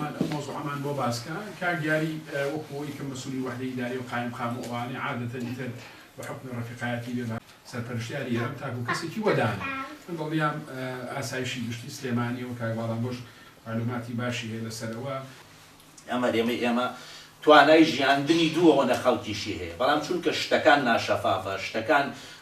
من ئەو مەوزوعەمان بۆ باس کا کاک یاری وەکو ئەوەی کە مەسولی وەحدەی ئیداری و قایم قام و ئەوانەی عادەتەن ئیتر بە حوکمی ڕەفیقایەتی بێ بە سەرپەرشتیاری یارم تاکو کەسێکی وەدانێ من دڵنیام ئاسایشی گشتی سلێمانی و کاک باڵانبۆش مەعلوماتی باشی هەیە لە سەر ئەوە. ئەم هەرێمەی ئێمە توانای ژیاندنی دوو وەنە خەڵکیشی هەیە بەڵام چونکە شتەکان ناشەفافە شتەکان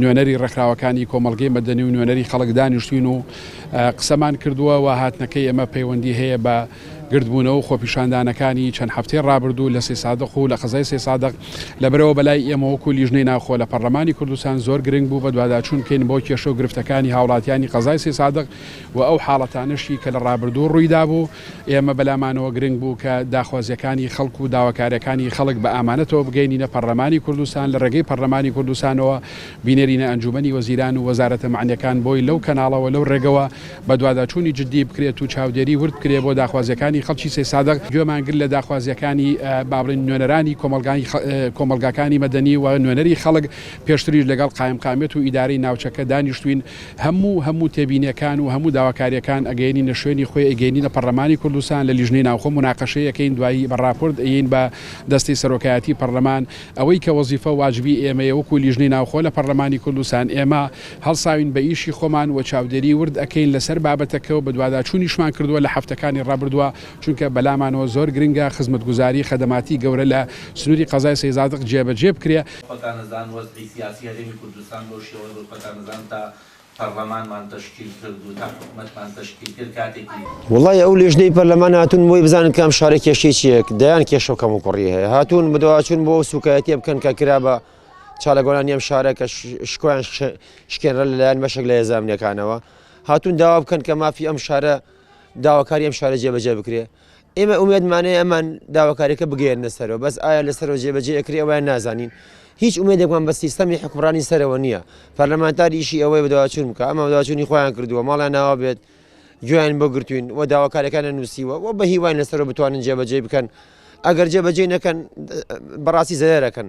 نوێنەری ڕێکخراوەکانی کۆمەڵگەی مەدەنی و نوێنەری خەڵک دانیشتوین و قسەمان کردووە و هاتنەکەی ئێمە پەیوەندی هەیە بە گردبوونەوە خۆپیشاندانەکانی چەند هەفتەی ڕابردوو لە سێ سادق و لە قەزای سێ سادق لەبرەوە بەلای ئێمە وەکو لیژنەی ناوخۆ لە پەرلەمانی کوردستان زۆر گرنگ بوو بە دواداچوون بکەین بۆ کێشە و گرفتەکانی هاوڵاتیانی قەزای سێ سادق و ئەو حاڵەتانەشی کە لە ڕابردوو ڕوویدا بوو ئێمە بەلامانەوە گرنگ بوو کە داخوازییەکانی خەڵک و داواکارییەکانی خەڵک بە ئامانەتەوە بگەینینە پەڕلەمانی کوردستان، لە رێگەی پەڕلەمانی کوردستانەوە بینێرینە ئەنجوومەنی وەزیران و وەزارەتە مەعنییەکان بۆی لەو کەناڵەوە لەو رێگەوە بەدواداچوونی جددی بکرێت و چاودێری ورد بکرێت بۆ داخوازییەکانی خەڵکی سەیسادق، گوێمان گرت لە داخوازییەکانی با بڵێین نوێنەرانی کۆمەڵگاکانی مەدەنی و نوێنەری خەڵک، پێشتریش لەگەڵ قایمقامیەت و ئیدارەی ناوچەکە دانیشتووین، هەموو هەموو تێبینیەکان و هەموو داواکاریەکان ئەگەیەنینە شوێنی خۆی ئەیگەینینە پەڕلەمانی کوردستان لە لیژنەی ناوخۆ موناقەشەی ئەکەین دوایی بە ڕاپۆرت ئەیەین بە دەستی سەرۆکایەتی پەڕلەمان ئەوەی کە وەزیفە و واجبی ئێمەیە وەکو لیژنەی ناوخۆ لە پەڕلەمانی کوردستان ئێمە هەڵساوین بە ئیشی خۆمان وە چاودێری ورد ئەکەین لەسەر بابەتەکە و بەدواداچونیشمان کردوە لە هەفتەکانی ڕابردوە چونکە بەلامانەوە زۆر گرنگە خزمەتگوزاری خەدەماتی گەورە لە سنوری قەزای سەیزادق جێبەجێ بکرێ. خۆتان ئەزان وەزعی سیاسی هەرێمی کوردستان بەو شێوە دەمزان تا پەڕلەمانمان تەشکیل کرد و تا حکومەتمان تەشکیل کرد کاتێکی. وەڵای ئەو لێژنەی پەرلەمان هاتوون بۆی بزانن کام شارە کێشەی چیە دەیان کێشە و کەموکوڕی هەیە هاتوون بەدواچوون بۆ ئەو سووکایەتیە بکەن کە کرا بە چالاکوانانی ئەم شارە کە شکۆیان شکێنرا لەلایەن بەشێک لە هێزە ئەمنیەکانەوە هاتوون داوا بکەن کە مافی ئەم شارە داواکاری ئەم شارە جێبەجێ بکرێ ئێمە ئومێدمان هەیە ئەمان داواکاریەکە بگەیەنە سەرەوە بەس ئایا لە سەرەوە جێبەجێ ئەکری ئەویان نازانین هیچ ئومێدێکمان بە سیستەمی حکوڕانی سەرەوە نییە پەرلەمانتار ئیشی ئەوەی بەداواچون بکە ئەمە داواچوونی خۆیان کردووە ماڵیان ناوا بێت گوێیان بۆ گرتوین و داواکارەکانە نووسیوە و بە هیوای لەسەرەوە بتوانن جێبەجێ بکەن ئەگەر جێبەجێ نەکەن بەڕاستی زەرەکەن